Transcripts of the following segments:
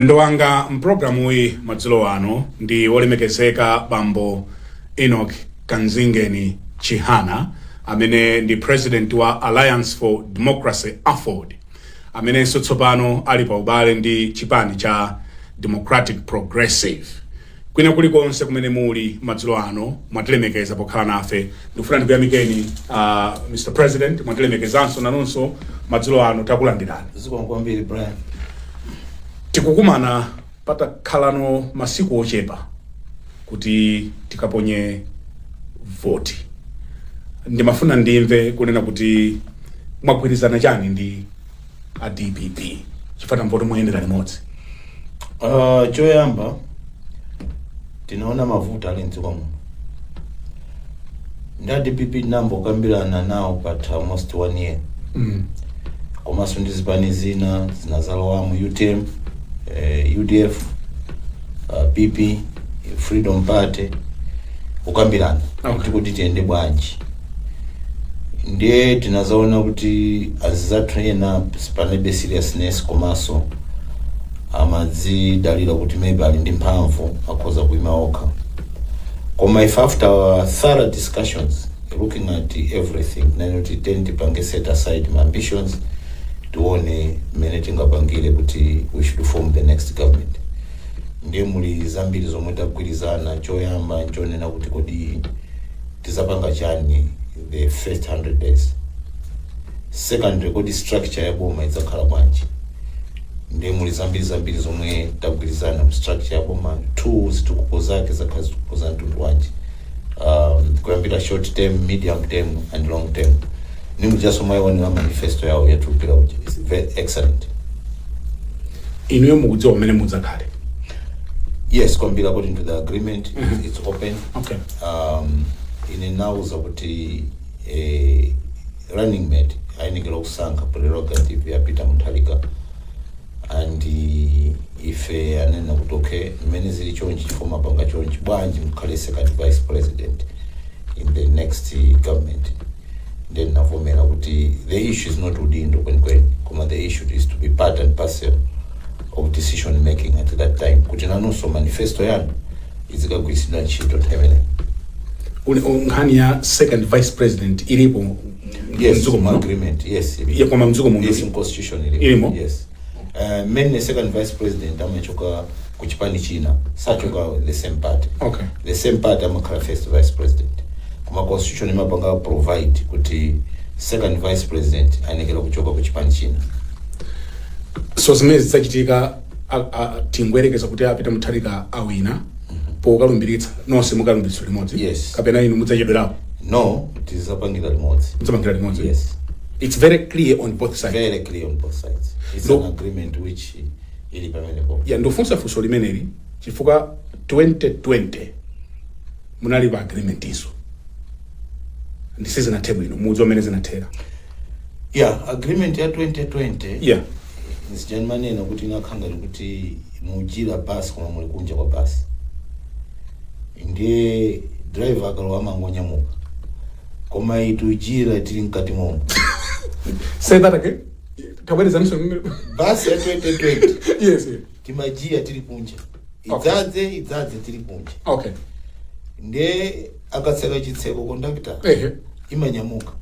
Mlendo wanga m'pulogalamuyi madzulo ano ndi Wolemekezeka Bambo Enoch Kanzingeni Chihana, amene ndi Purezidenti wa Alliance for Democracy, aford, amenenso tsopano ali paubale ndi chipani cha Democratic Progressive, Kwina kuli konse kumene muli madzulo ano, mwatilemekeza pokhala nafe. Ndikufuna ndikuyamikeni uh, Mr. President, mwatilemekezanso nanonso madzulo ano takulandirani. Zikomo kwambiri Brian. Tikukumana patakhalano masiku ochepa kuti tikaponye voti. Ndimafuna ndimve kunena kuti mwagwirizana chani ndi a dpp chifukwa tamva kuti muyendera limodzi Uh, choyamba tinaona mavuto ali mdziko muno ndi a dpp tinambokambirana nawo patha almost one year mm. komanso ndi zipani zina zinazalowamo utm eh, udf uh, pp freedom party kukambirana Okay. kuti kuti tiyende bwanji ndiye tinazaona kuti azizathu ena panalibe seriousness komanso amadzidalira kuti maybe ali ndi mphamvu akhoza kuima okha koma if after our thorough discussions looking at everything ndinati kuti then tipange set aside my ambitions tione mmene tingapangire kuti we should form the next government ndiye muli zambiri zomwe tagwirizana choyamba nchonena kuti kodi tizapanga chani the first 100 days secondly kodi structure ya boma idzakhala bwanji ndiye muli zambiri zambiri zomwe tagwirizana mu structure ya boma two zitukuko zake zakhala zitukuko za mtundu wanji um, kuyambira short term medium term and long term ndi mujaso mwayiwonera manifesto yawo yatulukira muja it's very excellent inuyo mukudziwa mmene mudzakhale yes kwambiri according to the agreement it's, it's open Okay. um, anandiuza kuti eh, running mate ayenera kusankha prerogative ya peter mutharika and eh, ife anena kuti okay mmene zili chonchi chifukwa mapanga chonchi bwanji mukhale second vice president in the next eh, government ndiye ndinavomera kuti the issue is not udindo kwenikweni koma the issue is to be part and parcel of decision making at that time kuti nanunso manifesto yanu izikagwiritsidwa ntchito nthawi imeneyo Uli- u- nkhani ya second vice president ilipo yes mdziko muno? agreement yes ili- Ya, koma mdziko muno yes ili- in constitution ili- ilimo? yes uh, mainly second vice president amachokera ku chipani china sachoka the same party Okay. the same party amakhala first vice president koma constitution imapanga provide kuti second vice president ayenekera kuchoka ku chipani china so zimene zidzachitika a- a- tingoyerekeza kuti a peter mutharika awina pokalumbiritsa nonse mukalumbiritsa limodzi Yes. kapena inu mudzachedwerapo no tizapangira limodzi mudzapangira limodzi yes it's very clear on both sides very clear on both sides it's No. an agreement which ili pamenepo. Ya ndufunsa funso limeneli chifukwa 2020 munali pa agreement izo ndi sizinathe bwino mudziwa mmene zinathera ya agreement ya 2020 ya nzija ndimanena kuti inakhala ngati kuti mujira basi koma muli kunja kwa basi ndiye driver akalowa amangonyamuka koma iyi tujira tili mkati momo say that again tabwerezaninso basi ya 2020 yes yes. timajira tili kunja Okay. idzadze idzadze tili kunja okay nde akatseka chitseko kondakta ehe imanyamuka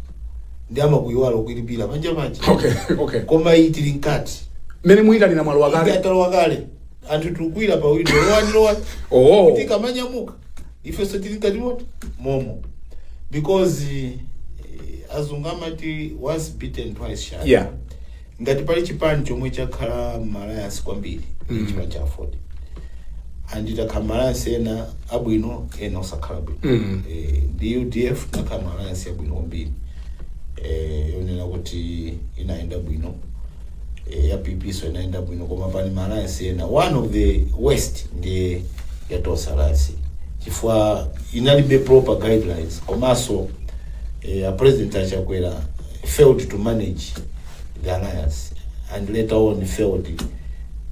ndi amakuyiwala kuilipira panja panja okay okay koma iyi tili mkati mmene muyitanira mwalowa kale talowa kale anthu tikukwira pa windo lowani lowani Oh. kuti ikamanyamuka ifenso tili mkati momo because eh, azungu amati once bitten twice shy Yeah. ngati pali chipani chomwe chakhala ma alliance kwambiri mm. chipani cha aford and takhala ma alliance ena abwino ena osakhala bwino Mm. eh, ndi udf tinakhala ma alliance abwino kwambiri eh, yonena kuti inayenda bwino eh, ya pp so inayenda bwino koma pali ma alliance ena one of the worst ndiye ya tonse alliance chifukwa inalibe proper guidelines komanso eh, a president achakwera failed to manage the alliance and later on failed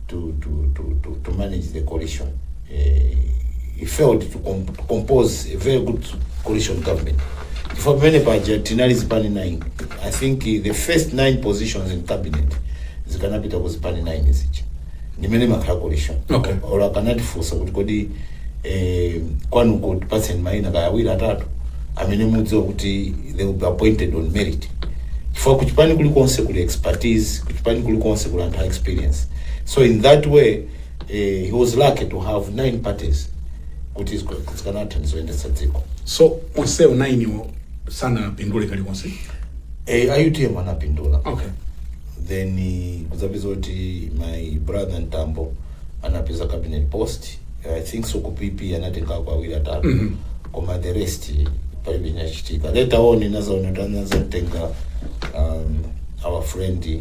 to, to, to, to, to manage the coalition he failed to, com to compose a very good coalition government chifukwa pamene paja tinali zipani 9 i think the first 9 positions in cabinet zikanapita ku zipani 9 zija ndi mmene imakhala coalition Okay. or akanatifunsa kuti kodi eh, kwanuko tipatseni maina kaya awiri atatu amene mudziwa kuti they will be appointed on merit chifukwa kuchipani kulikonse kuli expertise kuchipani kulikonse kuli anthu a experience so in that way eh, he was lucky to have nine parties kuti zika- zikanathandiza kuyendetsa dziko so onsewo nainiwo sanapindule kalikonse eh, a utm anapindula okay then eh, kudzapeza kuti my brother mtambo anapeza cabinet post i think so ku pp anatengako awiri atatu Mhm. koma the rest eh, palibe chinachitika later on tinazaona kuti anazatenga um, our friend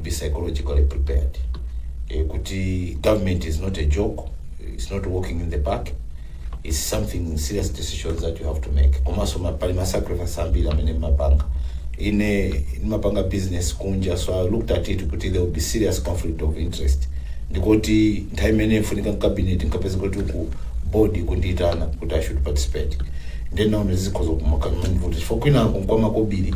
be psychologically prepared eh, kuti government is not a joke it's not walking in the park it's something serious decisions that you have to make komanso ma- pali masacrifice ambiri amene mmapanga ine ndimapanga business kunja so i looked at it kuti there will be serious conflict of interest ndikuti nthawi imene ifunika mkabineti nkapeza kuti ku board akundiitana kuti i should participate nde ndinaona zikhoza kumakanimanivuti chifukwa kwinako nkwamakobiri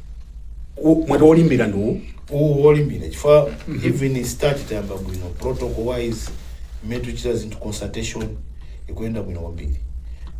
U- mwati olimbira ndiwo uwu wolimbira chifukwa even start tayamba bwino protocol wise mmene tikuchita zinthu consultation ikuyenda bwino kwambiri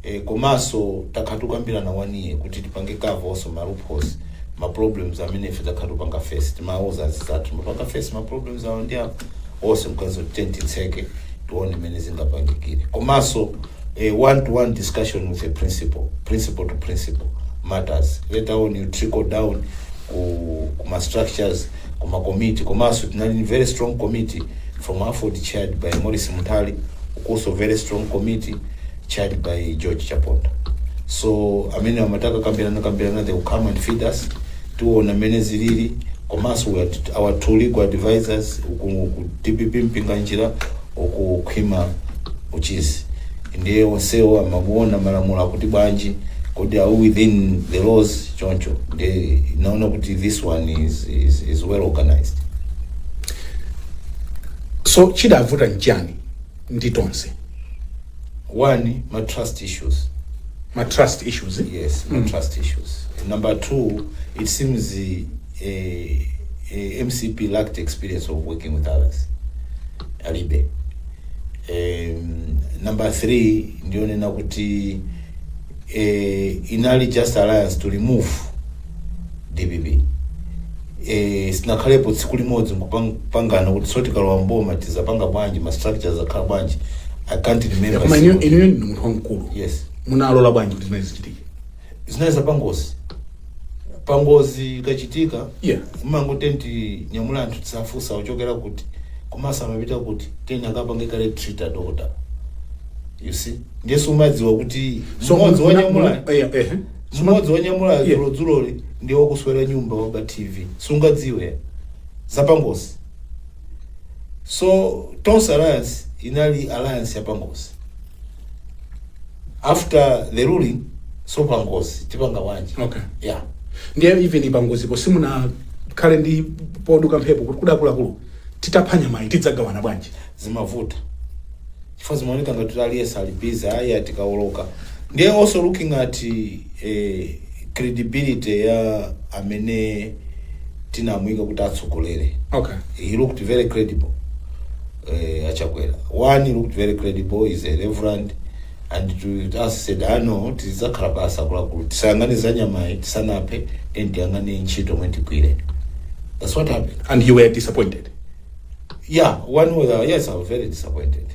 e, komanso takhala tikukambirana one year kuti tipange cover also ma loopholes ma problems amene ife takhala tikupanga face timawauza anzathu amapanga face ma problems awo ndi apo onse mkati tiyeni ti tseke tione mmene zingapangikire komanso A one to one discussion with a principal, principal to principal matters. Later on you trickle down ku, ku ma structures, ku ma committee. Komanso tinali ni very strong committee from Aford chaired by Morris Mutali, also very strong committee chaired by George Chaponda. So amene amataka kambirana kambirana they will come and feed us. Tiona amene zilili komanso we are- our two legal advisors ku ku DPP Mpinganjira okukhwima uchisi ndiye onsewo amapaona malamulo akuti bwanji kodi are we within the laws choncho ndiye ndinaona kuti this one is, is, is well organized so chidavuta nchani ndi Tonse one ma trust issues ma trust issues yes ma trust issues number two it seems uh, a, a mcp lacked experience of working with others alibe um, number three ndi onena kuti eh, inali just alliance to remove dpp eh, sitinakhalepo tsiku limodzi nkupangana kuti so tikalowa mboma tizapanga bwanji ma structures akhala bwanji i can't remember koma inuyo single- inuyo ndi munthu wamkulu yes munalola bwanji kuti zimene zichitike zinali za pangozi pangozi ikachitika Yeah. mmango tiyeni tinyamule anthu tisafunse ochokera kuti komanso amapita kuti tiyeni akapange kale treat adokota you see ndiye sumadziwa kuti So, mmodzi muna- wanyamula muna- eh, eh. mmodzi wanyamula Yeah. dzulodzuloli ndiye wakuswera nyumba waba tv sungadziwe zapangozi so tonse alliance inali alliance yapangozi after the ruling so pangozi tipanga bwanji Okay. yeah ndiye even pangozipo simunakhale ndi poduka mphepo kuti akuluakulu titapha nyamayi tidzagawana bwanji zimavuta chifukwa zimaoneka ngati kuti aliyense ali busy ayi atikawoloka ndiye also looking at eh, credibility ya amene tinamuyika kuti atsogolere okay he looked very credible eh, achakwera one looked very credible is a reverend and to us said ano tizakhala basa kulakulu tisayang'ane za nyamayi tisanaphe then tiyang'ane ntchito mwe tigwire that's what happened and you were disappointed yeah one was uh, yes i was very disappointed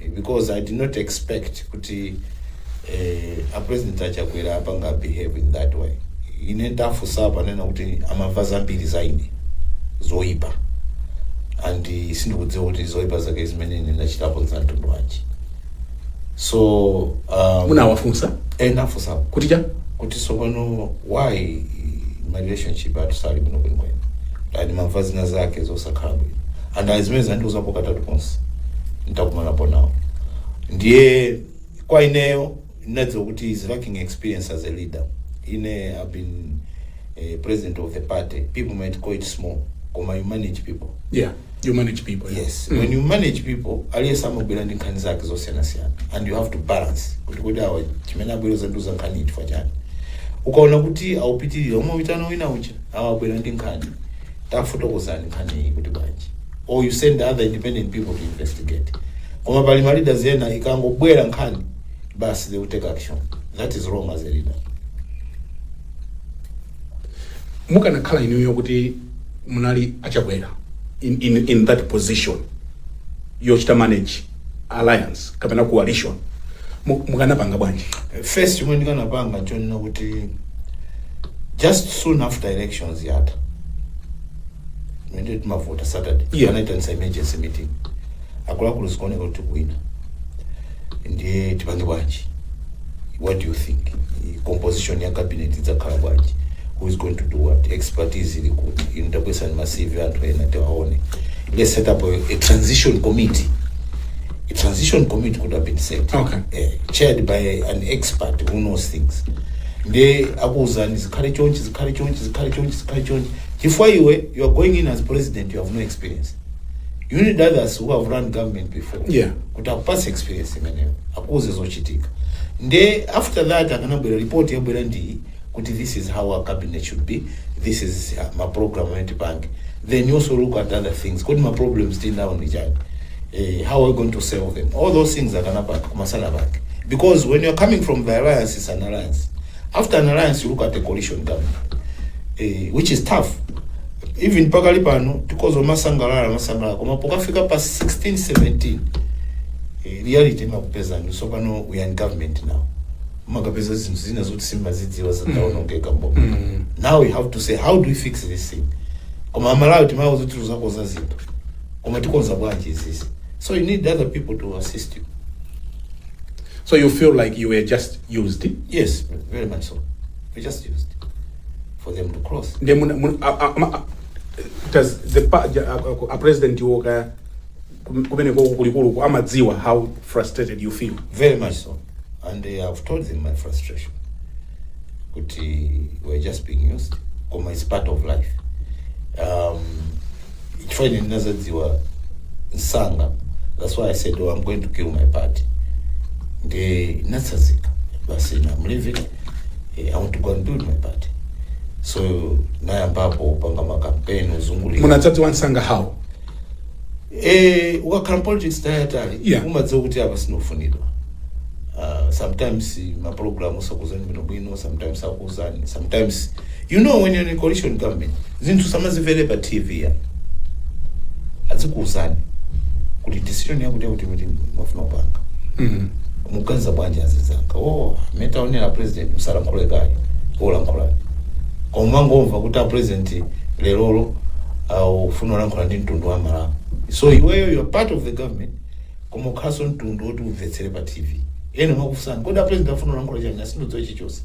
eh, because i did not expect kuti kuti eh, apresident achakwera apanga behave in that way ine ndafunsa ponena kuti amamva zambiri za ine zoyipa and eh, sindikudziwa kuti zoyipa zake zimene ine ndachitapo za mtundu wanji so um, munawafunsa ndinafunsa kuti cha kuti sopano why ma relationship athu sali bwino kwenikweni ati amamva zina zake zosakhala bwino and zimene anandiuzapo katatu konse ntakumanapo nawo ndiye kwa ineyo ndinadziwa kuti is lacking experience as a leader ine i've been eh, president of the party people might call it small koma you manage people yeah you manage people yeah. yes when you manage people aliyense amabwera ndi nkhani zake zosiyanasiyana and you have to balance kuti kodi awa chimene abwera zandiuza nkhani chifukwa chani ukaona kuti akupitirira umawitana wina kuti awa abwera ndi nkhani tafotokozani nkhani iyi kuti bwanji or you send other independent people to investigate koma pali ma leaders ena ikangobwera nkhani basi they will take action that is wrong as a leader mukanakhala inuyo kuti munali achakwera in, in, in that position yochita manage alliance kapena coalition mu- mukanapanga bwanji first chomwe ndikanapanga chonena kuti just soon after elections yatha monday timavota saturday Yeah. anaitanisa emergency meeting akuluakulu zikuoneka kuti kuwina ndiye tipange bwanji what do you think I- composition ya cabinet idzakhala bwanji who is going to do what expertise ili kuti inu tabweretsani ma cv a anthu ena tiwaone let's set up a, a transition committee a transition committee could have been set Okay. eh, chaired by an expert who knows things nde akuwuzani zikhale chonchi zikhale chonchi zikhale chonchi zikhale chonchi chifukwa iwe you are going in as president you have no experience you need others who have run government before Yeah. kuti akupatse experience imeneyo akuuze zochitika nde after that akanabwera report yabwera ndi kuti this is how our cabinet should be this is uh, ma program amene tipange then you also look at other things kodi ma problems tinawo ndi chani eh, how are we going to solve them all those things akanapanga kumasala pake because when you're coming from the alliance it's an alliance After an alliance, you look at the coalition government, eh, which is tough. Even pakali pano, tikhoza kumasangalala, kumasangalala, koma pokafika pa 16, 17, eh, reality imakupeza no. So pano, we are in government now. Mumakapeza zinthu zina zoti simumazidziwa zitaonongeka mboma. Now we have to say, how do we fix this thing? Koma amalawi timawauza zoti tizakonza zinthu. Koma tikonza bwanji izizi. So you need other people to assist you. So you feel like you were just used yes very much so we just used for them to cross nde muna- muna- a- a- ama- a- does the pa- ja- a- a- a president wo ka kum- kumene ko kulikuluku amadziwa how frustrated you feel very much so and uh, i've told them my frustration kuti we're just being used koma it's part of life um, chifukwa ine ndinazadziwa msanga that's why i said oh, i'm going to kill my party nde ndinatsazika basi na i'm leaving eh, i want to go and build my party so nayambapo upanga makampeni uzungulira munadzadziwa msanga how eh ukakhala politics nthawi yaitali Yeah. umadziwa kuti apa sinofunidwa uh, sometimes maprogramu sakuzani bwinobwino sometimes aku zani sometimes you know when you're in a coalition government zinthu usamazimvere pa tv ya azikuuzani kuti decision yakuti yakuti timafuna kupanga muganiza bwanji azinzanga oh mmene taonera president musalankhule kaye olankhula koma ungomva kuti a president lerolo afuna olankhula ndi mtundu wa malawi so iweyo you are part of the government koma ukhalaso mtundu woti umvetsere pa tv ena amakufunsani kodi a president afuna olankhula chani ah sindodziwa chichonse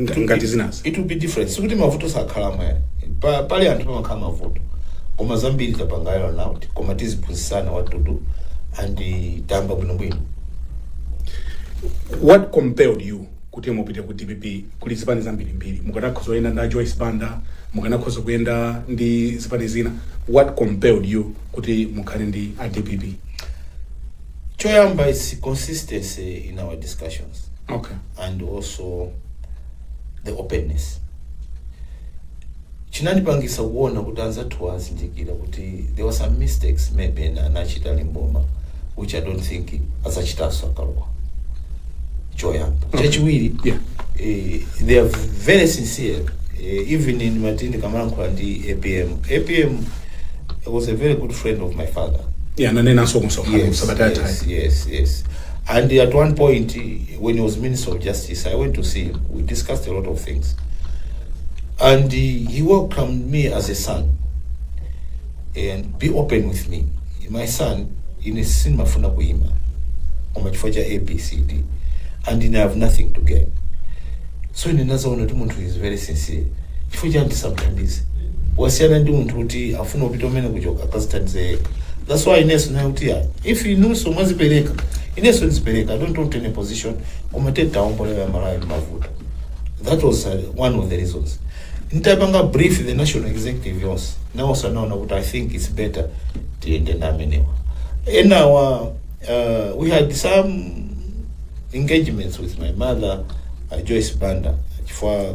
Nga- ngati zinazi it will be different sikuti mavuto sakhalamo ayi pa, pali anthu pamakhala mavuto koma zambiri tapanga iron out koma tiziphunzitsana what to do and eh, tayamba bwinobwino what compelled you kuti mupite ku dpp kuli zipani zambirimbiri mukanakhoza kuyenda ndi a joyce banda mukanakhoza kuyenda ndi zipani zina what compelled you kuti mukhale ndi a dpp choyamba is consistency in our discussions okay and also the openness chinandipangisa kuona kuti anzathuwa azindikira kuti there were some mistakes maybe ena anachita ali m'boma which i don't think azachitanso akalowa choyamba Okay. chachiwiri Yeah. eh, they are very sincere eh, even ndimati ndikamalankhula ndi apm apm was a very good friend of my father yeah ananenanso kumsonkhano yes, sabata yathayi yes, yes, yes. And at one point, when he was Minister of Justice, I went to see him. We discussed a lot of things. And he, he welcomed me as a son and be open with me. My son, ine sindimafuna kuima. Koma chifukwa cha A, B, C, D. And then I have nothing to gain. So ine ndinaona kuti munthu is very sincere. Chifukwa cha andisamthandize. Wasiyana ndi munthu woti afuna kupita kumeneku cholinga akazithandize yekha. That's why ineso ndinaona kuti ah, if inuso mwazipereka Ineso ndizipereka I don't want any position koma tiye tiwaombole a Malawi mmavuto that was uh, one of the reasons ntapanga brief the national executive yonse nawonso anaona kuti I think it's better tiyende ndi amenewa enawa uh, we had some engagements with my mother uh, Joyce Banda chifukwa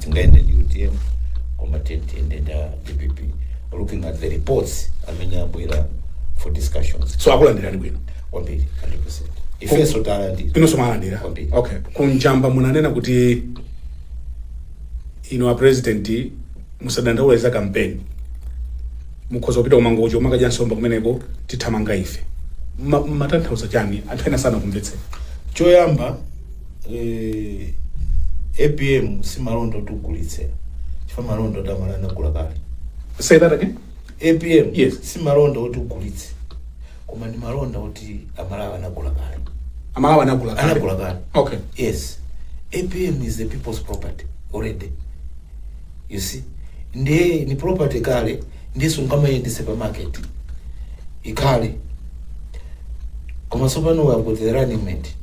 tingayende ndi utm koma tiyende ndi dpp looking at the reports amene abwera for discussions so akulandilani bwino kwambiri 100% ifenso talandira inunso mwalandira Kwambiri. okay kunjamba munanena kuti inu a president musadandaula za kampeni mukhoza kupita kumangochi kumakadya nsomba kumeneko tithamanga ife Ma- matanthauza chani anthu ena sanakumvetseni choyamba eh, apm si malonda oti ugulitse chifukwa malonda oti amalawi anagula kale Say that again. apm Yes. si malonda oti ugulitse koma ndi malonda oti amalawi anagula kale Amalawi anagula kale. anagula kale Okay. yes apm is the people's property already you see ndiye ni property kale ndiye sungamayendetse pa market ikale koma tsopano we have got the running mate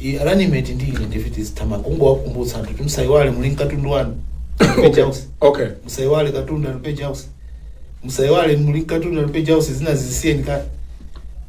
I- running mate ndi ine ndiye tizithamanga kungowakumbutsa anthu kuti musayiwale muli mkatundu wanu okay okay musayiwale katundu ali page house musayiwale muli mkatundu ali page house zina zisiyeni kale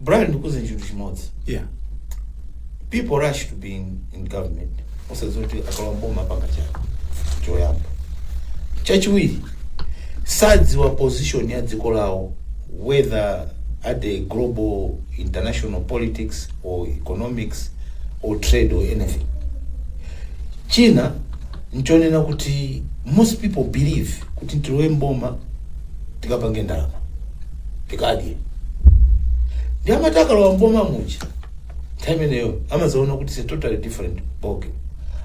Brian ndikuuze chinthu chimodzi yeah people rush to be in, in government osadziwa kuti akalowa mboma apanga chani choyamba chachiwiri sadziwa position ya dziko lawo whether at the global international politics or economics or trade or anything china nchonena kuti most people believe kuti ntilowe mboma tikapange ndalama tikadye ndiye amati akalowa mboma muja nthawi imeneyo amazaona kuti it's a totally different ballgame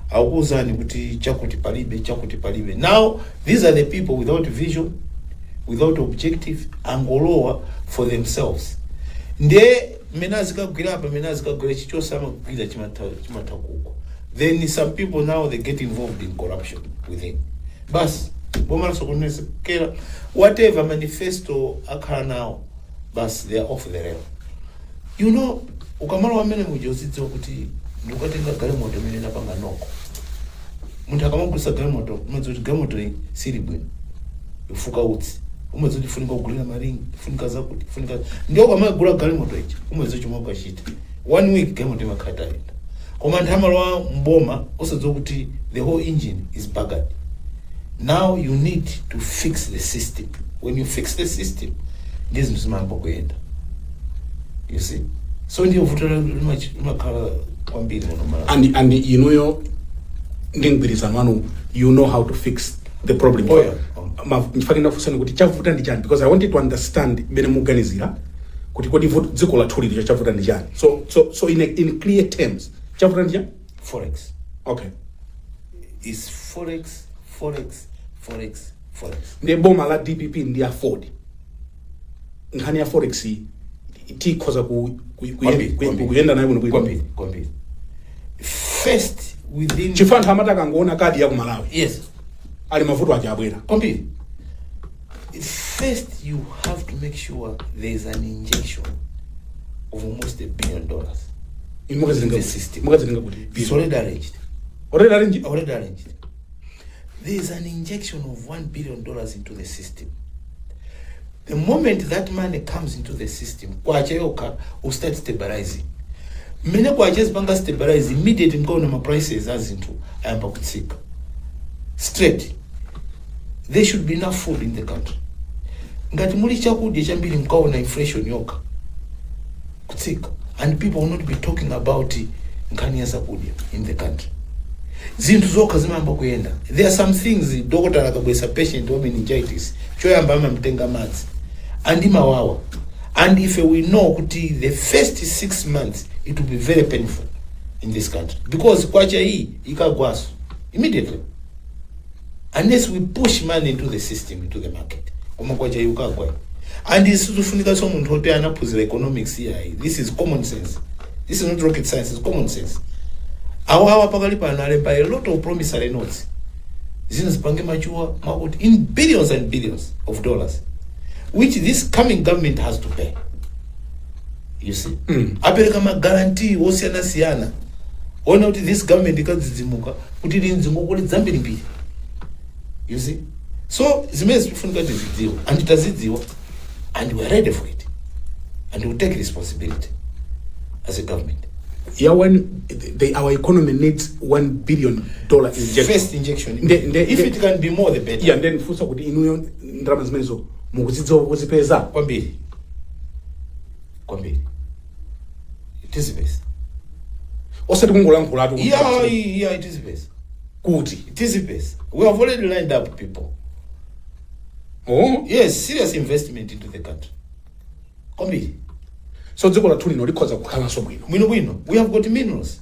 akuwuzani kuti chakuti palibe chakuti palibe now these are the people without vision without objective angolowa for themselves ndiye mmene azikagwira apa mmene azikagwira chilichonse amagwira chimatha chimatha kugwa then some people now they get involved in corruption within Bas boma lasokonezekera whatever manifesto akhala nawo bas they are off the rail you know ukamalowa mmene muja uzidziwa kuti ndikukatenga galimoto imene inapanga noko munthu akamagulisa galimoto umadziwa kuti galimoto iyi sili bwino ifuka utsi umadziwa kuti ifunika kugulira maringi ifunika zakuti ifunika ndiye ukamagula galimoto ichi umadziwa chomwe ukachita one week galimoto imakhala itayenda koma anthu amalowa mboma osadziwa kuti the whole engine is buggered now you need to fix the system when you fix the system ndiye zinthu zimayamba kuyenda you see so ndiye vuto la- limachi- limakhala kwambiri muno malawi and and inuyo ndi mgwirizano wanu you know how to fix the problem Oh, yeah. Ma- ndimafuna kufunsani kuti chavuta ndi chani because i wanted to understand mmene muganizira kuti kodi dziko lathuli chavuta ndi chani so so so in, a, in clear terms chavuta ndi chani forex okay it's forex forex forex forex nde boma la dpp ndi aford nkhani ya forex iyi tikhoza ku, ku, ku, kuyenda nayo bwino bwino kwambiri kwambiri first within chifukwa anthu amati akangoona kadi ya ku malawi yes ali mavuto aja abwera kwambiri First, you have to make sure there is an injection of almost a billion dollars. Inu mukazitenga The kuti? system. mukazitenga kuti It's already arranged. already arranged Already arranged. There is an injection of one billion dollars into the system. the moment that money comes into the system kwacha yokha will start stabilizing mmene kwacha izipanga stabilize immediately mkaona ma prices a zinthu ayamba kutsika straight there should be enough food in the country ngati muli chakudya chambiri mkaona inflation yokha kutsika and people will not be talking about nkhani ya zakudya in the country zinthu zokha zimayamba kuyenda there are some things dokotala akabweretsa patient wa meningitis choyamba amamtenga madzi and amawawa and ife we know kuti the first six months it will be very painful in this country because kwacha iyi ikagwaso immediately unless we push money into the system into the market koma kwacha ikagwa and sizifunikaso munthu oti anaphunzira economics yayi this is common sense this is not rocket science it's common sense awo awa pakali pano alemba a lot of promissory notes zinazo zipange mature makuti in billions and billions of dollars which this coming government has to pay you see apereka maguarantee osiyana-siyana onena kuti this government ikadzidzimuka kuti ili ndi ngongole zambirimbiri you see so zimenezi zikufunika tizidziwa and tazidziwa and we are ready for it and we'll take responsibility as a government ya one they, our economy needs 1 billion dollar injection first injection Nde- nde- if nde- it can be more the better yeah nde ndifunsa kuti inuyo ndalama zimenezo mukuzidziwa kuzipeza kwambiri kwambiri tizipeza osati kungolankhulatu yeah yeah tizipeza kuti tizipeza we have already lined up people oh yes serious investment into the country kwambiri so dziko lathu lino likhoza kukhalanso bwino bwino bwino we have got minerals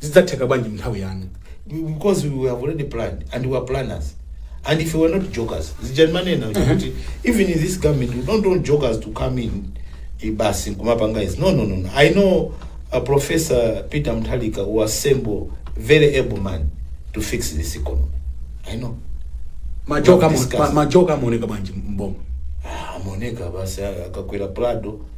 zidzatheka bwanji mnthawi yanu? because we have already planned and we are planners and if we were not jokers zija manena kuti even in this government we don't want jokers to come in eh, basi kumapanga izi no no no no. i know uh, professor peter mtalika who assemble very able man to fix this economy i know majoka Discuss. ma- majoka amaoneka bwanji mboma Ah, amaoneka basi akakwera prado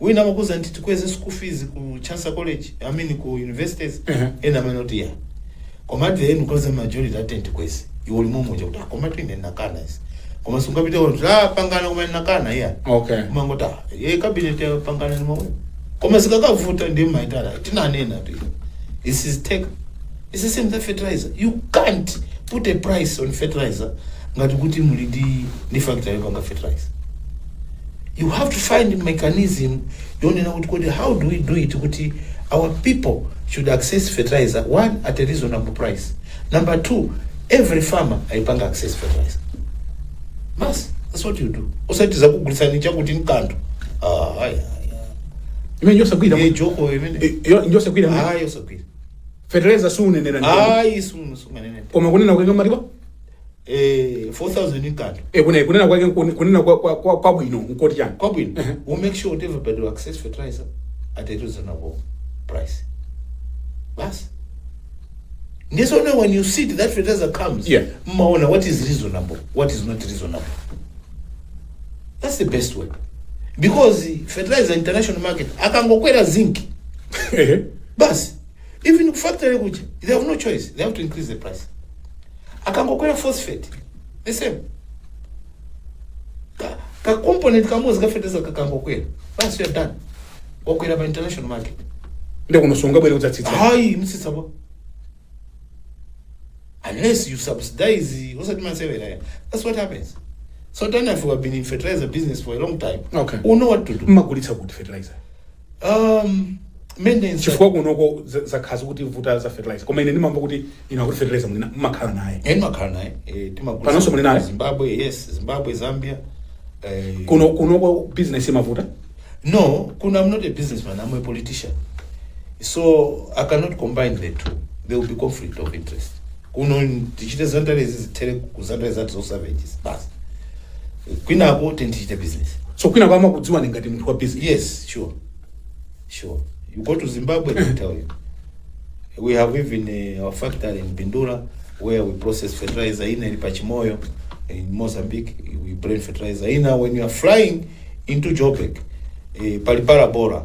wina amakuuza kuti tikweze school fees ku chancellor college i mean ku universities Mhm. ena amene kuti ya koma at the end because majority ati tikweze iwe uli momuja kuti "Ah, koma tu ine nakana izi koma sungapite kuti apangana koma nakana ya okay umangoti ayi cabinet yapangana ndi momwe koma zikakavuta nde mumaitana tinanenatu this is take this is same na fertilizer you can't put a price on fertilizer ngati kuti muli ndi ndi factory yopanga fertilizer you have to find mechanism yonena kuti kodi how do we do it kuti our people should access fertilizer one at a reasonable price number two every farmer ayipanga access fertilizer basi that's what you do osati zakugulitsani chakuti nkanthu ah, ayi, ayi, imene njosagwira ayi. Eh, iyo imene Eh, yo- njosagwira mwe. ayi osagwira fertilizer sumanena ndi ayi sumu sumanena koma kunena kutenga maliwa eh 4000 inkato e kunena kunena kwake nkuni- kunena kwa- kwa- kwa- kwabwino nkoti chani kwabwino we make sure kuti everybody will access fertilizer at a reasonable price basi ndiso no when you see it, that fertilizer comes Yeah. mmaona what is reasonable what is not reasonable that's the best way because fertilizer international market akangokwera zinc Ehe. basi Even ku factory kuja they have no choice, they have to increase the price. Akangokwera phosphate the same ka, ka component kamodzi ka fertilizer kakangokwera basi you are done wakwera pa international market nde kuno sungabwere kudzatsitsa hayi mutsitsa bwa unless you subsidize osati masewera ya that's what happens so then if you have been in fertilizer business for a long time Okay. you know what to do mmagulitsa kuti fertilizer Um, maintenance. chifukwa kunoko za- zakhala zikutivuta za fertilizer koma ine ndimamva kuti inu akuti fertilizer muli naye mmakhala naye Eh, ndimakhala naye eh, timagulitsa Panonso muli naye? zimbabwe yes zimbabwe zambia eh, kuno kunoko business imavuta no kuno I'm not a businessman i'm a politician so i cannot combine the two there will be conflict of interest kuno tichite zandarezi zithere ku zandare zathu zo savages basi kwinako tindichite business so kwina kwama kudziwani ngati munthu wa business yes sure sure you go to zimbabwe they tell you we have even uh, our factory in bindula where we process fertilizer ina ili pachimoyo in mozambique we blend fertilizer ina when you are flying into joburg eh, pali parabora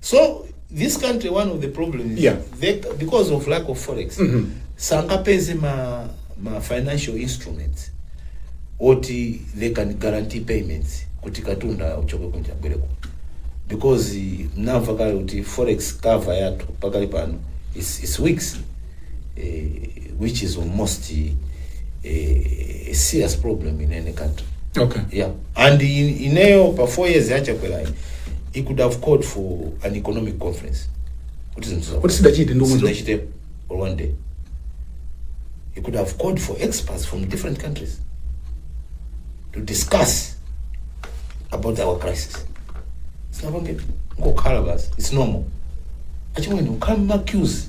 so this country one of the problem is Yeah. they, because of lack of forex sangapeze ma, ma financial instruments oti they can guarantee payments kuti katunda uchoke kunja bwereko because eh, mnamva kale kuti forex cover yathu pakali pano is, is weeks eh, which is almost a, a serious problem in any country okay yeah and in, ineyo pa four years yachakwerayi he could have called for an economic conference kuti zinthu za- Kuti sidachite ndi umuzo. sidachite or one day he could have called for experts from different countries to discuss about our crisis sinapange ngokhala basi it's normal achimwene ukhala mmacues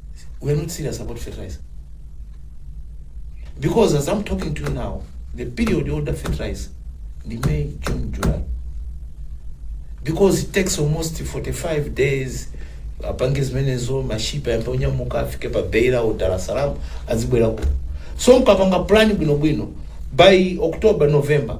we are not serious about fertilizer because as I'm talking to you now the period you order fertilizer the May June July because it takes almost 45 days apange zimenezo mashipa yambe onyamuka afike pa beira u dar es salaam azibwera kuno so mkapanga plan bwinobwino by october november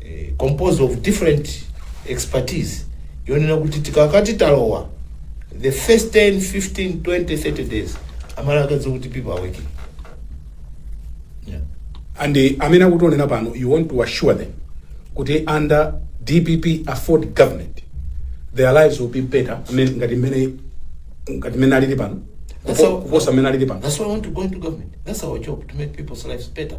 eh, composed of different expertise yonena kuti tikakati talowa the first 10 15 20 30 days amala akadziwa kuti people are working yeah. and eh, amene akutionera pano you want to assure them kuti under dpp afford government their lives will be better amene- ngati mmene ngati mmene alili pano That's kupo- how- kuposa mmene alili pano That's why I want to go into government. That's our job to make people's lives better.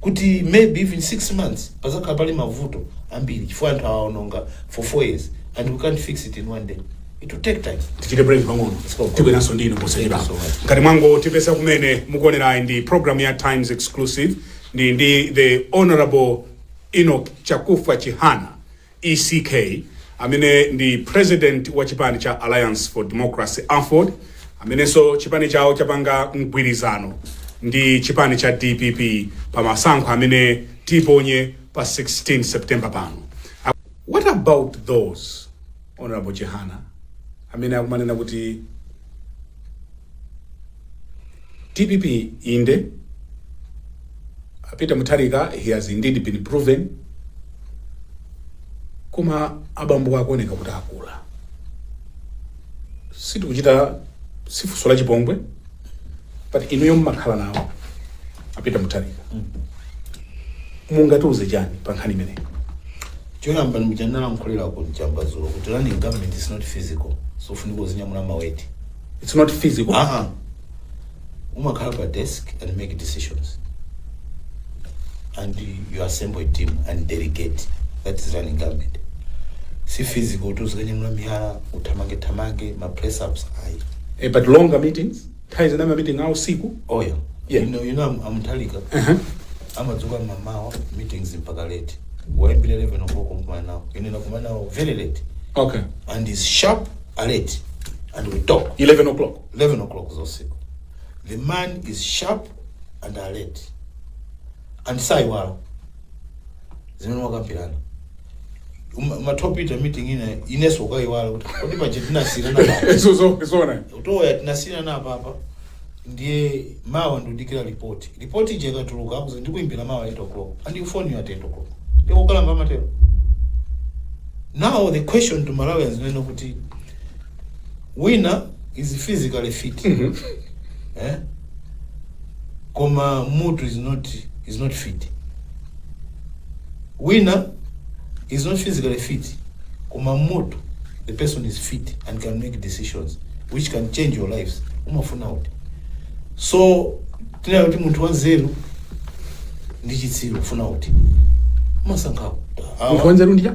kuti maybe even 6 months padzakhala pali mavuto ambiri chifukwa anthu awaononga for 4 years and we can't fix it in one day it will take time tichite break pang'ono tibweranso ndinu posachedwa Thank you so much. ngati mwangotipeza kumene mukuonerayi ndi program ya Times Exclusive ndi ndi the honorable Enoch Chakufwa Chihana ECK, amene ndi president wa chipani cha Alliance for Democracy, Aford, amenenso chipani chawo chapanga mgwirizano ndi chipani cha dpp pa masankho amene tiponye pa 16 September pano. What about those, Hon. Chihana, amene akumanena kuti DPP inde a Peter Mutharika he has indeed been proven koma abambo akuoneka kuti akula sitikuchita si funso la chipongwe but inuyo mmakhala nawo a Peter Mutharika mungatiuze chani pa nkhani imeneyi Choyamba ndi mmene ndinalankhulira ku Chamba dzulo kuti running government is not physical. Sufunika uzinyamula ma weight. It's not physical. Ah ah. Umakhala pa desk and make decisions. And you assemble a team and delegate. That is running government. Si physical kuti uzikanyamula miyala, uthamange thamange, ma press ups ayi. Eh, but longer meetings. Nthawi zina ma meeting a usiku. Oh yeah. Yeah. You know, you know I'm, I'm Talika. Uh -huh. amadzuka mmamawa meetings mpaka late waimbira 11 o'clock kumkumana nawo ine nakumana nawo very late Okay. and is sharp alert and we talk 11 o'clock. 11 o'clock zosiku the man is sharp and alert and saiwala zimene mwakambirana Uma- umatha kupita meeting ina inenso nkuiwala kuti kodi paja tinasiyirana pa Papa Zo- zo- zona eya tinasiyirana pa Papa ndiye mawa ndikudikira ripoti ripoti ija ikatuluka akuti ndikuimbira mawa 8 o'clock and he phones you at 8 o'clock ndikukalamba amatero now the question to Malawians nnena kuti wina is physically fit eh? koma mutu is not, is not fit wina is not physically fit koma mutu the person is fit and can make decisions which can change your lives umafuna uti so tinene kuti munthu wanzeru ndi chitsiru umafuna uti umasankha munthu wanzeru ndija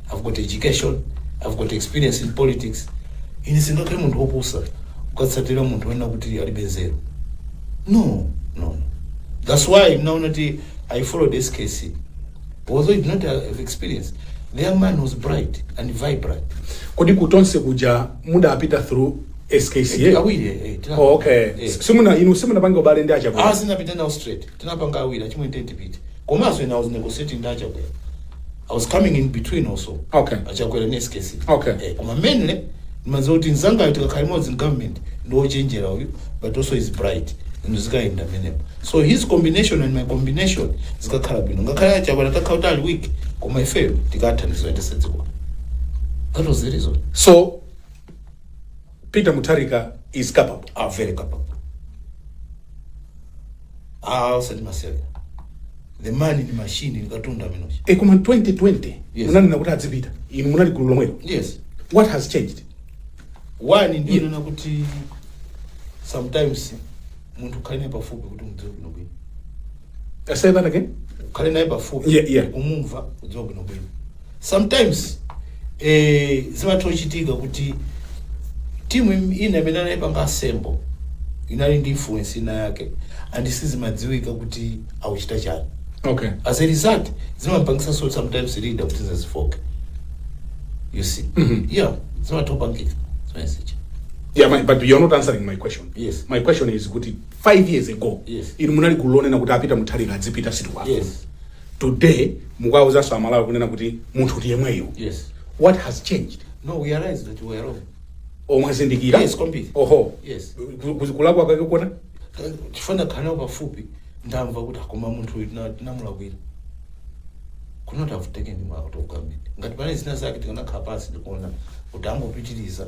I've got education, I've got experience in politics. Ine singakhale munthu wopusa kukatsatira munthu woona kuti alibe nzeru. No, no. That's why munaona kuti I followed SKC. Although he did not have experience, the young man was bright and vibrant. kodi kutonse kuja mudapita through SKC Awiri, eh, tina- oh, okay eh. simuna inu simunapanga ubale ndi a Chakwera Ah, sinapita nawo straight. Tinapanga awiri, a Chilima ndi ine ndipite. Komanso when I was negotiating ndi a Chakwera. I was coming in between also Okay. a Chakwera ndi SKC Okay. eh, koma mainly ndimadziwa kuti mzangayo tikakhala limodzi in government ndi wochenjera uyu but also is bright and zikayenda mmenemo so his combination and my combination zikakhala bwino ngakhale a Chakwera atakhala kuti ali weak koma ifeyo tikathandiza kuyendetsa dziko that was the reason so Peter Mutharika is capable. Ah very capable. Ah, osati masewera. The man ndi machine ndi katundu ameneuja. E koma 2020 Yes. munanena kuti adzipita. Inu munali gulu lomwelo. Yes. What has changed? One ndikunena kuti sometimes munthu ukhale naye pafupi kuti umudziwe bwino bwino. Uh, say that again. ukhale naye pafupi Yeah, yeah. umumve umudziwe bwinobwino sometimes eh, zimatha kuchitika kuti timu im- ina imene anayipanga assemble inali ndi influence ina yake and sizimadziwika kuti akuchita chani Okay. as a result zimapangisa sometimes leader kuti azifooka you see Mhm. yeah zimatha kupangika zimenezija Yeah, but you're not answering my question. Yes. My question is kuti 5 years ago yes. inu munali gulu lonena kuti a Peter Mutharika adzipita sitikuwafuna yes. today mukuwauzanso a Malawi kunena kuti munthu ndi yemweyo yes. what has changed no, we realize that we are wrong. Oh mwazindikira Yes, kwambiri. oho Yes. Ku- ku- kulakwa kwake kuona Eh, chifukwa ndakhala nawo pafupi ndamva kuti ah koma munthu uyu tina- tinamulakwira could not have taken him out of government ngati panali zina zake tikanakhala pansi n'kuona kuti angopitiriza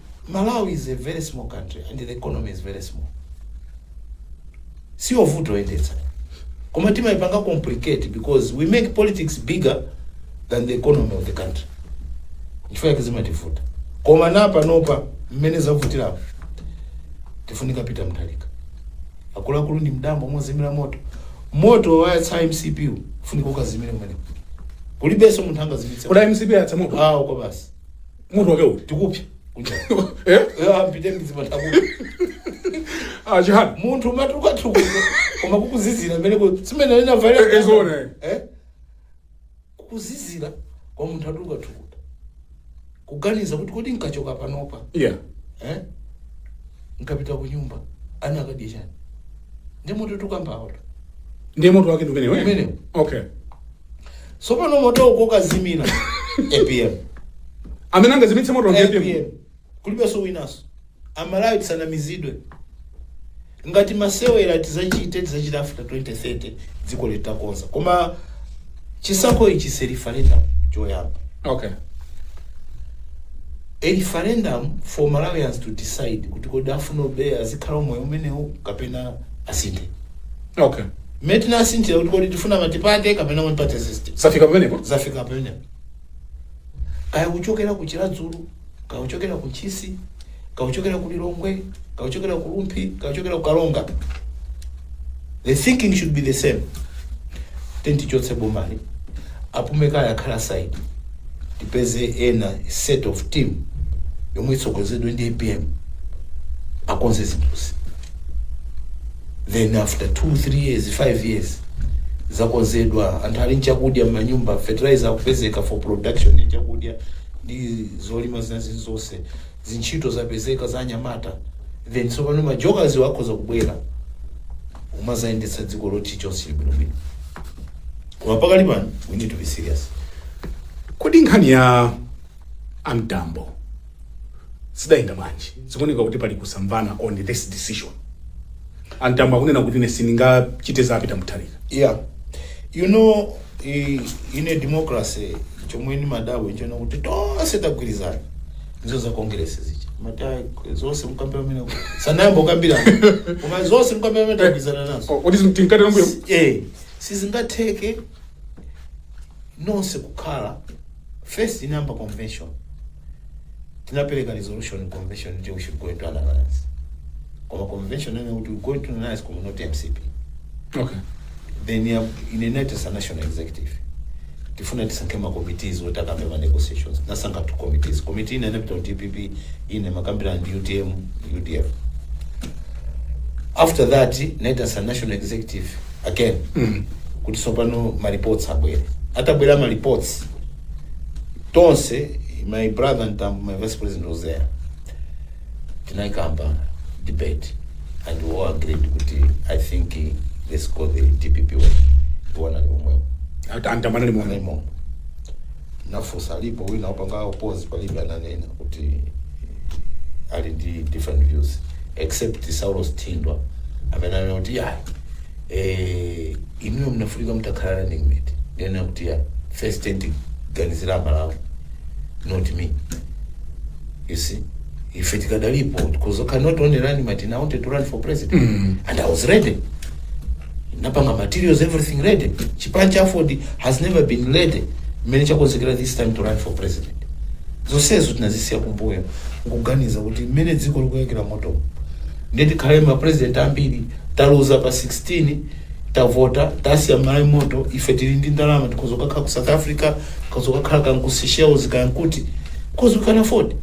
Malawi is a very small country and the economy is very small siyovuta kuyendetsa koma timayipanga complicate because we make politics bigger than the economy of the country chifukwa yake zimativuta koma panopa mmene zavutirapo tikufunika Peter Mutharika akuluakulu ndi m'dambo mozimira moto moto wayatsa MCP wu, ufunika ukazimire kumeneko kulibenso munthu angazimitse koma MCP yayatsa moto awo kwa basi moto wake uti tikupya Eh? apite mizipata Ah, chihani munthu umatukutuka koma kukuzizira mmeneko simene Eh, eh, zona, eh. inavaira kukuzizira kwa munthu atukatukuta kuganiza kuti kodi nkachoka panopa yeah eh? nkapita ku nyumba ana akadya chani ndi moto tikukambawo ndiye moto wake ndi umenewo eh? Umenewo. okay Tsopano moto ukoka zimina. APM. amene angazimitse moto ndi apm APM. Kulibenso winanso. Amalawi tisanamizidwe. Ngati masewera tizachite tizachita after 2030 dziko litakonzeka. Koma chisankho ichi si referendum choyamba. okay a referendum for Malawians to decide kuti kodi afuna obey azikhala moyo umenewu kapena asinthe okay Mmene tinasinthira kuti kodi tifuna matipate kapena one party system. Zafika pamenepo? Zafika pamenepo. Kaya kuchokera ku Chiradzulu, kaya kuchokera ku Ntchisi, kaya kuchokera ku Lilongwe, kaya kuchokera ku Rumphi, kaya kuchokera ku Karonga. The thinking should be the same. Then tichotse bomali. Apume kaye akhale aside tipeze ena set of team yomwe itsogozedwe ndi apm akonze zinthuzi then after 2 3 years 5 years zakonzedwa anthu ali nchakudya m'manyumba fertilizer akupezeka for production ya chakudya ndi zolima zina zili zonse zintchito zapezeka za anyamata then tsopano majokers wa akhoza kubwera umazayendetsa dziko loti chonse chili bwinobwino Koma pakali pano we need to be serious. Kodi nkhani ya a Mtambo zidayenda bwanji? Zikuoneka kuti pali kusamvana on this decision. A Mtambo akunena kuti ine sindingachite za Peter Mutharika. Yeah. You know, i- in a democracy chomwe nimadabwa nchonena kuti tonse tagwirizana ndizo za congress zicha mata zonse mukambira mmene sanayambe kukambira koma zonse mukambira mmene tagwirizana nazo O- Kodi tinkati nombuyo? eh sizingatheke nonse kukhala first inayamba convention tinapereka resolution convention inati we should go into an alliance koma convention inanena kuti we go into an alliance koma not mcp okay then ndinaitanitsa national executive tifuna tisankhe ma committees oti akambe ma negotiations nasankha two committees committee ina inapita ku dpp ina makambirana ndi utm udf after that ndinaitanitsa national executive again kuti tsopano ma reports abwere atabwera ma reports tonse my brother a Mtambo my vice president was there tinaikamba debate and we all agreed kuti i think eh, let's go the dpp way iwo anali omwewo Anta- a Mtambo anali momwemo. nafusa alipo wina opanga opose palibe ananena kuti ali ndi different views except Saulos Thindwa amene ananena kuti ya eh, inuyo munafunika mutakhala running mate nde ndinanena kuti ya first tandiganizira malawi not me you see ife tikadalipo because I cannot only run mate now I wanted to run for president and I was ready napanga materials everything ready chipani cha aford has never been ready mmene chakonzekera this time to run for president zonsezo tinazisiya kumbuyo kuganiza kuti mmene dziko likuyakira moto ndiye tikhale ma president ambiri taluza pa 16 tavota tasiya Mmalawi moto ife tili ndi ndalama tikhoza kukakhala ku south africa tikhoza kukakhala kaya ku Seychelles kaya nkuti because we can afford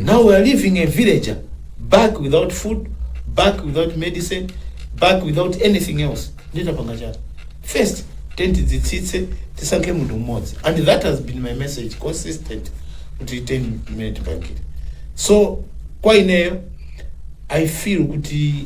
now we are leaving a villager back without food back without medicine back without anything else nde tapanga chani first tiyeni tidzitsitse tisankhe munthu mmodzi and that has been my message consistent kuti tiyeni mmene tipangire so kwa ineyo i feel kuti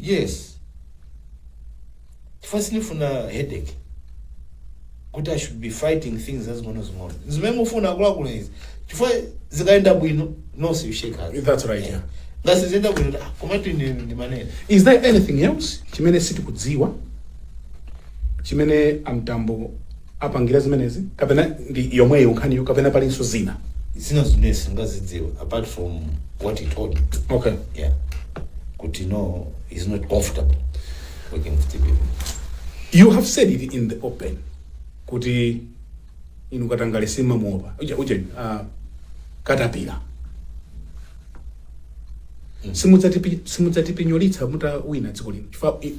Yes chifukwa sindifuna headache kuti i should be fighting things zazing'onozing'ono zimene mufuna akuluakulu izi chifukwa zikayenda bwino nonse you shake hands That's right, yeah. ngati sizienda bwino ah, komatu ine ndimanena is there anything else chimene sitikudziwa chimene a Mtambo apangira zimenezi kapena ndi yomweyo nkhaniyo kapena palinso zina. zina zimene sindingazidziwe apart from what he told me Okay. yeah kuti no he's not comfortable working with the people You have said it in the open kuti inu katangale simumamuopa uja uja uh, katapira simudzatipi- simudzatipinyolitsa mutawina dziko lino chifukwa i-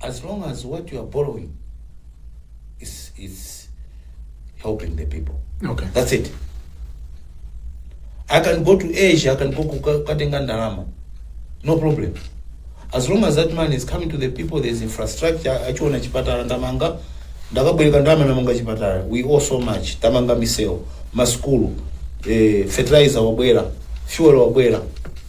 as long as what you are borrowing is, is helping the people Okay. that's it i can go to asia i can go kuka- katenga ndalama no problem as long as that money is coming to the people there is infrastructure achiona chipatala ndamanga ndakabwereka ndalama ndamanga chipatala we owe so much tamanga misewu maskulu eh, fertilizer wabwera fuel wabwera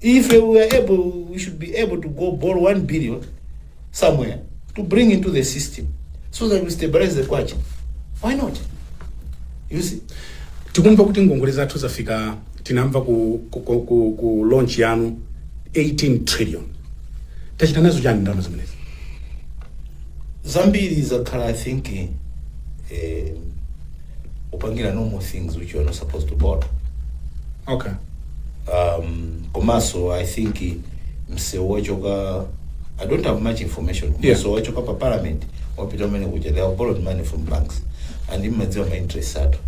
If we were able, we should be able to go borrow 1 billion somewhere to bring into the system so that we stabilize the kwacha. Why not? You see? tikumva kuti ngongole zathu zafika tinamva ku, ku, ku, ku, ku launch yanu 18 trillion tachita nazo chani ndalama zimenezi Zambiri zakhala, I think, eh, upangira normal things which you are not supposed to borrow okay um, komanso i think msewu wachoka i don't have much information Yeah. msewu wachoka pa parliament wapita umene kuja they have borrowed money from banks and imadziwa ma interest ato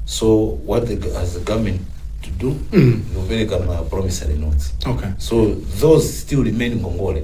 so what the, go- has the government to do Mm. ndikupereka ma promissory notes okay so those still remain ngongole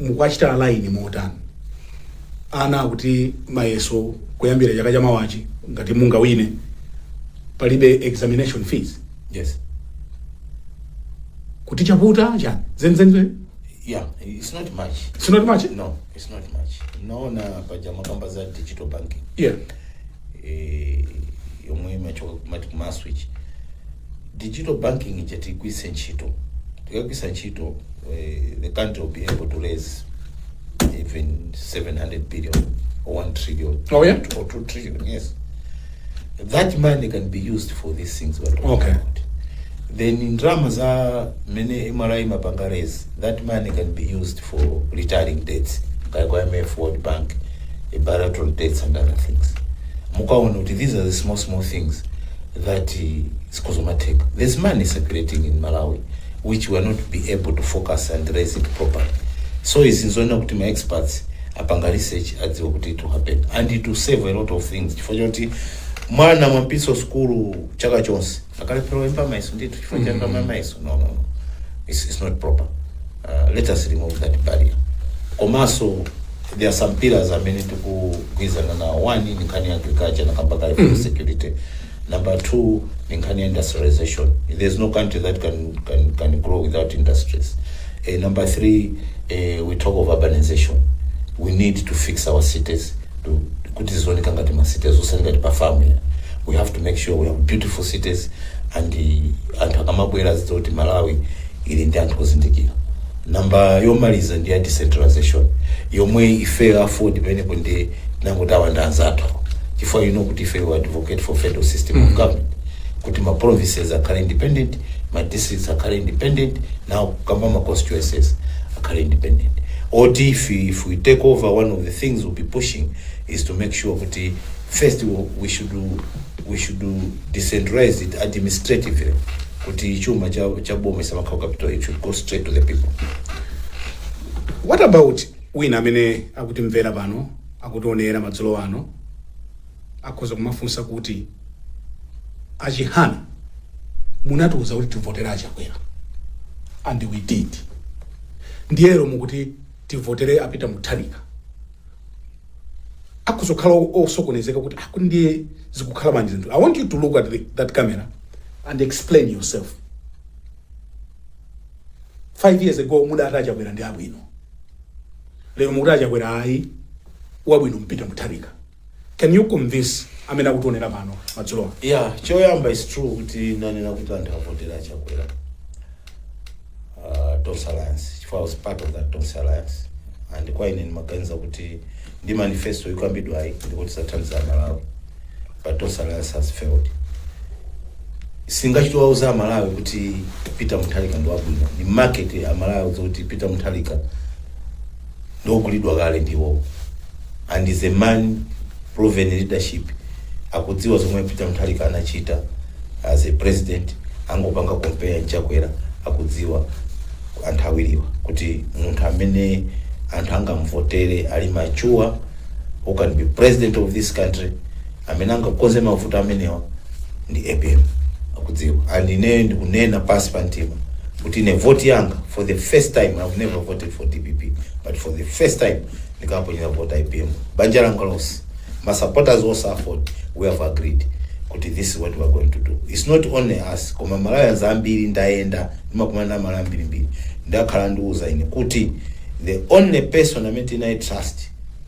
mukwachita line motani ana kuti mayeso kuyambira chaka cha mawachi ngati mungawine palibe examination fees yes kuti chaputa chani zenizeni yeah it's not much it's not much no it's not much naona paja mumakamba za digital banking yeah eh, yomwe imachoka kumati kumaswitch digital banking ija tigwiritse ntchito tikagwiritsa ntchito eh, the country will be able to raise even 700 billion or 1 trillion Oh, yeah? or 2 trillion yes that money can be used for these things we're talking Okay. about then in drama za mene mri mapanga raise that money can be used for retiring debts kaya kwa IMF, World Bank, eh, bilateral debts and other things. Mukaone kuti these are the small small things that eh, it's cosmetic. There's money circulating in Malawi which we are not be able to focus and raise it properly. So izi nzoona kuti ma experts apanga research adziwa kuti it will happen and it will save a lot of things chifukwa choti mwana mwampitsa sukulu chaka chonse akalephera oyimba mayeso ndithu chifukwa cha ndalama ya mayeso no no no. it's, it's not proper uh, let us remove that barrier komanso there are some pillars amene tikugwirizana nawo one ni nkhani ya agriculture na kamba kale food security number two ni nkhani ya industrialization there's no country that can, can, can grow without industries uh, number three uh, we talk of urbanization we need to fix our cities to kuti zioneka ngati ma cities osati ngati pa farm ya we have to make sure we have beautiful cities and uh, anthu akamabwera azidziwa kuti malawi ili ndi anthu ozindikira namba yomaliza ndi ya decentralization yomwe ifeyo a AFORD pamenepo ndi tinangoti awa ndi anzathu chifukwa you know kuti ife we advocate for federal system of government kuti ma provinces akhale independent ma districts akhale independent nawo akamba ma constituencies akhale independent oti if, if we take over one of the things we'll be pushing is to make sure kuti first wo- we should, we should decentralize it administratively kuti chuma cha, cha boma isamakhale ku capital it should go straight to the people what about wina amene akutimvera pano akutionera madzulo ano akhoza kumafunsa kuti achihana munatiuza kuti tivotere achakwera and we did ndiye lero mukuti tivotere a Peter Mutharika akhoza kukhala o- osokonezeka kuti akuti ndiye zikukhala bwanji zinthu i want you to look at the, that camera and explain yourself five years ago mudati achakwera ndi abwino lero mukuti achakwera ayi wabwino ndi Peter mutharika Can you convince amene akutionera pano madzulowa? Yeah, choyamba is true kuti ndinanena kuti anthu avotere a chakwera uh, Tonse Alliance chifukwa I was part of that Tonse Alliance and kwa ine ndimaganiza kuti ndi manifesto ikukambidwayi ndikuti ithandiza aMalawi but Tonse Alliance has failed sindingachite kuwauza aMalawi kuti Peter Mutharika ndi wabwino ni market ya aMalawi kuti Peter Mutharika ndiogulidwa kale ndi iwowo and he's a man proven leadership akudziwa zomwe a Peter Mutharika anachita as a president angopanga compare ndi Chakwera akudziwa anthu awiriwa kuti munthu amene anthu angamvotere ali mature who can be president of this country amene angakonze mavuto amenewa ndi apm akudziwa and ine ndikunena pasi pa mtima kuti ine voti yanga for the first time i've never voted for dpp but for the first time ndikaponyera vota apm banja langa lonse ma supporters onse aford we have agreed kuti this is what we are going to do it's not only us koma malawians ambiri ndayenda ndimakumana ndi amalawi ambirimbiri akhala akundiuza ine kuti the only person amene tingamu trust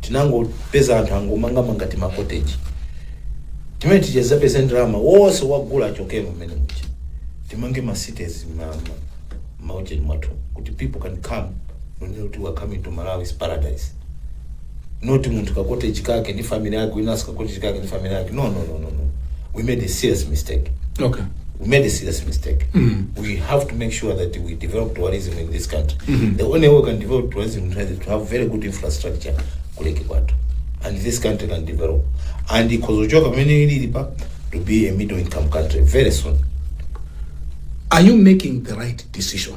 tinangopeza anthu angomangamanga timakoteji amene aja apeza ndalama wonse wagula chokemo mmene muja timange ma cities maujeni mwathu kuti people can come kunena kuti we are coming to malawi is paradise not munthu kakoteji kake ndi family yake winanso kakoteji kake ndi family yake no no no no no we made a serious mistake okay we made a serious mistake. We have to make sure that we develop tourism in this country. The only way we can develop tourism in Tanzania is to have very good infrastructure kuleke kwathu. And this country can develop. And ikozochoka pamene ilili pa to be a middle income country very soon. are you making the right decision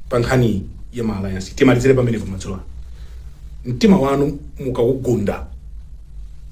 pa nkhani ya ma alliance timalizire pamenepo madzulo ano mtima wanu mukawugunda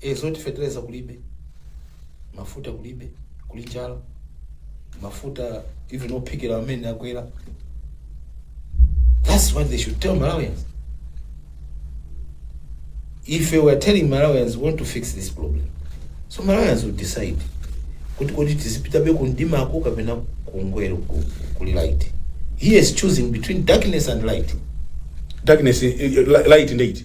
E, zoti feteleza kulibe, mafuta kulibe, kuli njala, mafuta even ophikira amene akwera. That's what they should tell Malawians. Ife we are telling Malawians we want to fix this problem, so Malawians will decide kuti kodi tizipitabe kundimako kapena kungwero ku- kuli light. He is choosing between darkness and light. darkness eh, eh, light ndi iti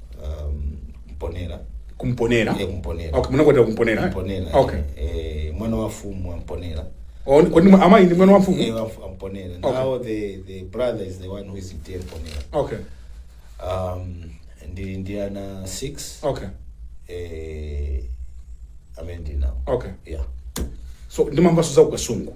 um, mponera kumponera Iye kumponera. okay munakwatira kumponera eh? mponera okay eh, mwana wa mfumu a mponera Oh, kodi mwa- amayi ndi mwana wa Eh, mfumu wa mfu- a mponera Okay. now the, the brother is the one who is TA mponera okay um, ndili ndi ana 6 okay eh, amene ndinawo okay yeah so ndimamvaso za kukasungu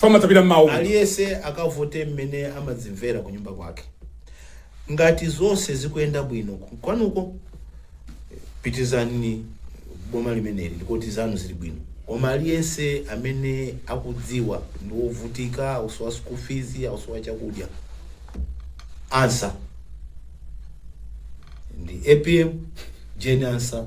pamatabira mawu aliyese akavote mmene amadzimvera ku nyumba kwake ngati zonse zikuyenda bwino ku- kwanuko pitirizani boma limeneli ndekuti zanu zili bwino koma aliyense amene akudziwa ndi wovutika ausowa school fees ausowa chakudya answer ndi apm jane ansa